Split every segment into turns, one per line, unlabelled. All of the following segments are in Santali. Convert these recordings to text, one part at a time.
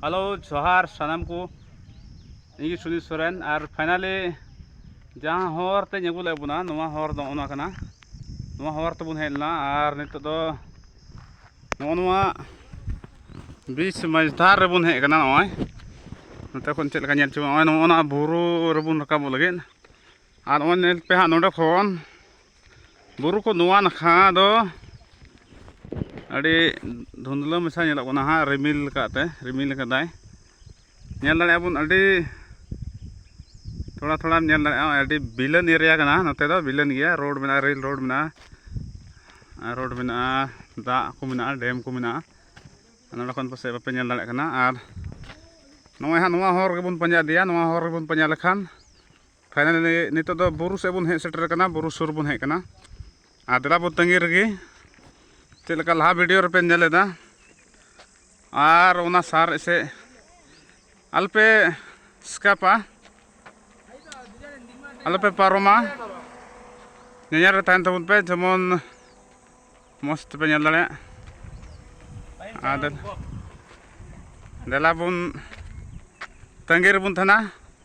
ᱦᱮᱞᱳ ᱡᱚᱦᱟᱨ ᱥᱟᱱᱟᱢ ᱠᱚ ᱤᱧ ᱜᱮ ᱥᱩᱱᱤᱞ ᱥᱚᱨᱮᱱ ᱟᱨ ᱯᱷᱟᱭᱱᱟᱞᱤ ᱡᱟᱦᱟᱸ ᱦᱚᱨ ᱛᱮ ᱟᱹᱜᱩ ᱞᱮᱫ ᱵᱚᱱᱟ ᱱᱚᱣᱟ ᱦᱚᱨ ᱫᱚ ᱱᱚᱜᱼᱚ ᱱᱚᱣᱟ ᱠᱟᱱᱟ ᱱᱚᱣᱟ ᱦᱚᱨ ᱛᱮᱵᱚᱱ ᱦᱮᱡ ᱞᱮᱱᱟ ᱟᱨ ᱱᱤᱛᱚᱜ ᱫᱚ ᱱᱚᱜᱼᱚ ᱱᱚᱣᱟ ᱵᱤᱪ ᱢᱟᱹᱡᱷᱫᱷᱟᱨ ᱨᱮᱵᱚᱱ ᱦᱮᱡ ᱟᱠᱟᱱᱟ ᱱᱚᱜᱼᱚᱭ ᱱᱚᱛᱮ ᱠᱷᱚᱱ ᱪᱮᱫ ᱞᱮᱠᱟ ᱧᱮᱞ ᱪᱚ ᱱᱚᱜᱼᱚᱭ ᱱᱚᱜᱼᱚ ᱱᱚᱣᱟ ᱵᱩᱨᱩ ᱨᱮᱵᱚᱱ ᱨᱟᱠᱟᱵᱚᱜ ᱞᱟᱹᱜᱤᱫ ᱟᱨ ᱱᱚᱜᱼᱚᱭ ᱧᱮᱞ ᱯᱮ ᱦᱟᱸᱜ ᱱᱚᱰᱮ ᱠᱷᱚᱱ ᱵᱩᱨᱩ ᱠᱚ ᱱᱚᱣᱟ ᱱᱟᱠᱷᱟ ᱫᱚ ᱟᱹᱰᱤ ᱫᱷᱩᱸᱫᱽᱞᱟᱹ ᱢᱮᱥᱟ ᱧᱮᱞᱚᱜ ᱠᱟᱱᱟ ᱦᱟᱸᱜ ᱨᱤᱢᱤᱞ ᱠᱟᱜᱛᱮ ᱨᱤᱢᱤᱞ ᱠᱟᱫᱟᱭ ᱧᱮᱞ ᱫᱟᱲᱮᱭᱟᱜ ᱵᱚᱱ ᱟᱹᱰᱤ ᱛᱷᱚᱲᱟ ᱛᱷᱚᱲᱟᱢ ᱧᱮᱞ ᱫᱟᱲᱮᱭᱟᱜᱼᱟ ᱟᱹᱰᱤ ᱵᱤᱞᱟᱹᱱ ᱮᱨᱤᱭᱟ ᱠᱟᱱᱟ ᱱᱚᱛᱮ ᱫᱚ ᱵᱤᱞᱟᱹᱱ ᱜᱮᱭᱟ ᱨᱳᱰ ᱢᱮᱱᱟᱜᱼᱟ ᱨᱮᱹᱞ ᱨᱳᱰ ᱢᱮᱱᱟᱜᱼᱟ ᱨᱳᱰ ᱢᱮᱱᱟᱜᱼᱟ ᱫᱟᱜ ᱠᱚ ᱢᱮᱱᱟᱜᱼᱟ ᱰᱮᱢ ᱠᱚ ᱢᱮᱱᱟᱜᱼᱟ ᱱᱚᱰᱮ ᱠᱷᱚᱱ ᱯᱟᱥᱮᱡ ᱵᱟᱯᱮ ᱧᱮᱞ ᱫᱟᱲᱮᱭᱟᱜ ᱠᱟᱱᱟ ᱟᱨ ᱱᱚᱜᱼᱚᱭ ᱦᱟᱸᱜ ᱱᱚᱣᱟ ᱦᱚᱨ ᱜᱮᱵᱚᱱ ᱯᱟᱸᱡᱟ ᱤᱫᱤᱭᱟ ᱱᱚᱣᱟ ᱦᱚᱨ ᱜᱮᱵᱚᱱ ᱯᱟᱸᱡᱟ ᱞᱮᱠᱷᱟᱱ ᱯᱷᱟᱭᱱᱟᱞᱤ ᱱᱤᱛᱚᱜ ᱫᱚ ᱵᱩᱨᱩ ᱥᱮᱫ ᱵᱚᱱ ᱦᱮᱡ ᱥᱮᱴᱮᱨ ᱟᱠᱟᱱᱟ ᱵᱩᱨᱩ ᱥᱩᱨ ᱵᱚᱱ ᱦᱮᱡ ᱟᱠᱟᱱᱟ ᱟᱨ ᱫᱮᱞᱟ ᱵᱚᱱ ᱛᱟᱺᱜᱤ ᱨᱮᱜᱮ ᱪᱮᱫ ᱞᱮᱠᱟ ᱞᱟᱦᱟ ᱵᱷᱤᱰᱤᱭᱳ ᱨᱮᱯᱮ ᱧᱮᱞ ᱮᱫᱟ ᱟᱨ ᱚᱱᱟ ᱥᱟᱨ ᱮᱥᱮ ᱟᱞᱯᱮ ᱥᱠᱟᱯᱟ ᱟᱞᱯᱮ ᱯᱟᱨᱚᱢᱟ ᱧᱮᱧᱮᱞ ᱨᱮ ᱛᱟᱦᱮᱱ ᱛᱟᱵᱚᱱ ᱯᱮ ᱡᱮᱢᱚᱱ ᱢᱚᱡᱽ ᱛᱮᱯᱮ ᱧᱮᱞ ᱫᱟᱲᱮᱭᱟᱜ ᱟᱨ ᱫᱮᱞᱟ ᱵᱚᱱ ᱛᱟᱺᱜᱤ ᱨᱮᱵᱚᱱ ᱛᱟᱦᱮᱱᱟ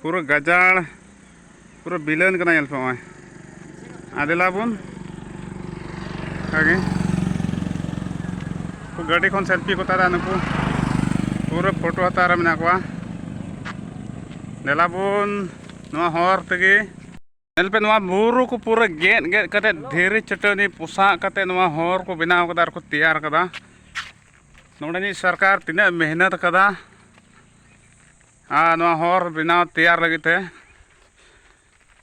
ᱯᱩᱨᱟᱹ ᱜᱟᱡᱟᱲ ᱯᱩᱨᱟᱹ ᱵᱤᱞᱟᱹᱱ ᱠᱟᱱᱟ ᱧᱮᱞ ᱯᱮ ᱱᱚᱜᱼᱚᱭ ᱟᱫᱮᱞᱟ ᱵᱚᱱ ᱚᱱᱠᱟᱜᱮ ᱜᱟᱹᱰᱤ ᱠᱷᱚᱱ ᱥᱮᱞᱯᱷᱤ ᱠᱚ ᱛᱟᱨᱟ ᱱᱩᱠᱩ ᱯᱩᱨᱟᱹ ᱯᱷᱳᱴᱳ ᱦᱟᱛᱟᱣ ᱨᱮ ᱢᱮᱱᱟᱜ ᱠᱚᱣᱟ ᱫᱮᱞᱟ ᱵᱚᱱ ᱱᱚᱣᱟ ᱦᱚᱨ ᱛᱮᱜᱮ ᱧᱮᱞ ᱯᱮ ᱱᱚᱣᱟ ᱵᱩᱨᱩ ᱠᱚ ᱯᱩᱨᱟᱹ ᱜᱮᱫ ᱜᱮᱫ ᱠᱟᱛᱮᱫ ᱫᱷᱤᱨᱤ ᱪᱟᱹᱴᱟᱹᱱᱤ ᱯᱚᱥᱟᱜ ᱠᱟᱛᱮᱫ ᱱᱚᱣᱟ ᱦᱚᱨ ᱠᱚ ᱵᱮᱱᱟᱣ ᱠᱟᱫᱟ ᱟᱨ ᱠᱚ ᱛᱮᱭᱟᱨ ᱠᱟᱫᱟ ᱱᱚᱰᱮᱱᱤᱡ ᱥᱚᱨᱠᱟᱨ ᱛᱤᱱᱟᱹᱜ ᱢᱮᱦᱱᱚᱛ ᱠᱟᱫᱟ ᱟᱨ ᱱᱚᱣᱟ ᱦᱚᱨ ᱵᱮᱱᱟᱣ ᱛᱮᱭᱟᱨ ᱞᱟᱹᱜᱤᱫ ᱛᱮ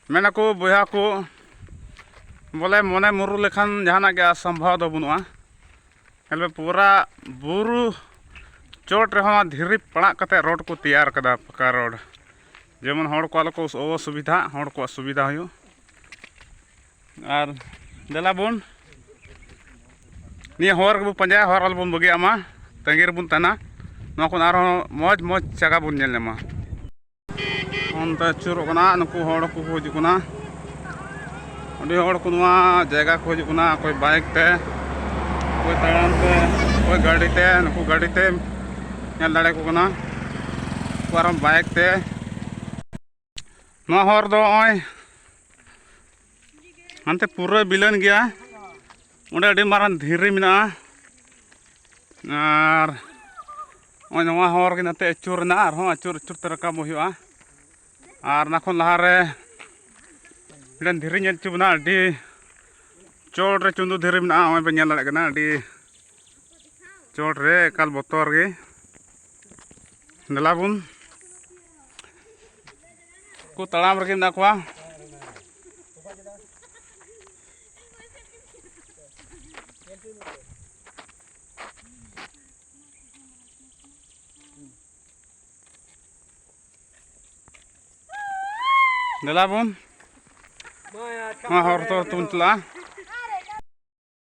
ᱢᱮᱱᱟᱠᱚ ᱵᱚᱭᱦᱟ ᱠᱚ ᱵᱚᱞᱮ ᱢᱚᱱᱮ ᱢᱩᱨᱩ ᱞᱮᱠᱷᱟᱱ ᱡᱟᱦᱟᱱᱟᱜ ᱜᱮ ᱚᱥᱚᱢᱵᱷᱚᱵ ᱫᱚ ᱵᱟᱹᱱᱩᱜᱼᱟ ᱧᱮᱞ ᱢᱮ ᱯᱩᱨᱟ ᱵᱩᱨᱩ ᱪᱚᱴ ᱨᱮᱦᱚᱸ ᱫᱷᱤᱨᱤ ᱯᱟᱲᱟᱜ ᱠᱟᱛᱮᱫ ᱨᱳᱰ ᱠᱚ ᱛᱮᱭᱟᱨ ᱠᱟᱫᱟ ᱯᱟᱠᱟ ᱨᱳᱰ ᱡᱮᱢᱚᱱ ᱦᱚᱲ ᱠᱚ ᱟᱞᱚ ᱠᱚ ᱚᱥᱩᱵᱤᱫᱷᱟᱜ ᱦᱚᱲ ᱠᱚᱣᱟᱜ ᱥᱩᱵᱤᱫᱷᱟ ᱦᱩᱭᱩᱜ ᱟᱨ ᱫᱮᱞᱟ ᱵᱚᱱ ᱱᱤᱭᱟᱹ ᱦᱚᱨ ᱜᱮᱵᱚᱱ ᱯᱟᱸᱡᱟᱭᱟ ᱦᱚᱨ ᱟᱞᱚ ᱵᱚᱱ ᱵᱟᱹᱜᱤᱭᱟᱜ ᱢᱟ ᱛᱟᱺᱜᱤ ᱨᱮᱵᱚᱱ ᱛᱟᱦᱮᱱᱟ ᱱᱚᱣᱟ ᱠᱷᱚᱱ ᱟᱨᱦᱚᱸ ᱢᱚᱡᱽ ᱢᱚᱡᱽ ᱡᱟᱭᱜᱟ ᱵᱚᱱ ᱧᱮᱞ ᱧᱟᱢᱟ ᱚᱱᱛᱮ ᱟᱹᱪᱩᱨᱚᱜ ᱠᱟᱱᱟ ᱱᱩᱠᱩ ᱦᱚᱲ ᱠᱚ ᱦᱤᱡᱩᱜ ᱠᱟᱱᱟ ᱟᱹᱰᱤ ᱦᱚᱲ ᱠᱚ ᱱᱚᱣᱟ ᱡᱟᱭᱜᱟ ᱠᱚ ᱦᱤᱡᱩᱜ ᱠᱟᱱᱟ ᱚᱠᱚᱭ ᱵᱟᱭᱤᱠ ᱛᱮ ᱚᱠᱚᱭ ᱛᱟᱲᱟᱢ ᱛᱮ ᱚᱠᱚᱭ ᱜᱟᱹᱰᱤ ᱛᱮ ᱱᱩᱠᱩ ᱜᱟᱹᱰᱤ ᱛᱮ ᱧᱮᱞ ᱫᱟᱲᱮ ᱠᱚ ᱠᱟᱱᱟ ᱩᱱᱠᱩ ᱟᱨᱦᱚᱸ ᱵᱟᱭᱤᱠ ᱛᱮ ᱱᱚᱣᱟ ᱦᱚᱨ ᱫᱚ ᱱᱚᱜᱼᱚᱭ ᱦᱟᱱᱛᱮ ᱯᱩᱨᱟᱹ ᱵᱤᱞᱟᱹᱱ ᱜᱮᱭᱟ ᱚᱸᱰᱮ ᱟᱹᱰᱤ ᱢᱟᱨᱟᱝ ᱫᱷᱤᱨᱤ ᱢᱮᱱᱟᱜᱼᱟ ᱟᱨ ᱱᱚᱜᱼᱚᱭ ᱱᱚᱣᱟ ᱦᱚᱨ ᱜᱮ ᱱᱟᱛᱮ ᱟᱹᱪᱩᱨ ᱨᱮᱱᱟᱜ ᱟᱨᱦᱚᱸ ᱟᱹᱪᱩᱨ ᱟᱹᱪᱩᱨ ᱛᱮ ᱨᱟᱠᱟᱵ ᱦᱩᱭᱩᱜᱼᱟ ᱟᱨ ᱚᱱᱟ ᱠᱷᱚᱱ ᱞᱟᱦᱟᱨᱮ ᱢᱤᱫᱴᱮᱱ ᱫᱷᱤᱨᱤ ᱧᱮᱞ ᱦᱚᱪᱚ ᱵᱚᱱᱟ ᱟᱹᱰᱤ ᱪᱚᱴ ᱨᱮ ᱪᱩᱸᱫᱩ ᱫᱷᱤᱨᱤ ᱢᱮᱱᱟᱜᱼᱟ ᱱᱚᱜᱼᱚᱭ ᱵᱮᱱ ᱧᱮᱞ ᱫᱟᱲᱮᱭᱟᱜ ᱠᱟᱱᱟ ᱟᱹᱰᱤ ᱪᱚᱴ ᱨᱮ ᱮᱠᱟᱞ ᱵᱚᱛᱚᱨ ᱜᱮ ᱫᱮᱞᱟ ᱵᱚᱱ ᱠᱚ ᱛᱟᱲᱟᱢ ᱨᱮᱜᱮ ᱢᱮᱱᱟᱜ ᱠᱚᱣᱟ ᱫᱮᱞᱟ ᱵᱚᱱ ᱱᱚᱣᱟ ᱦᱚᱨ ᱫᱚ ᱛᱩᱱ ᱪᱟᱞᱟᱜᱼᱟ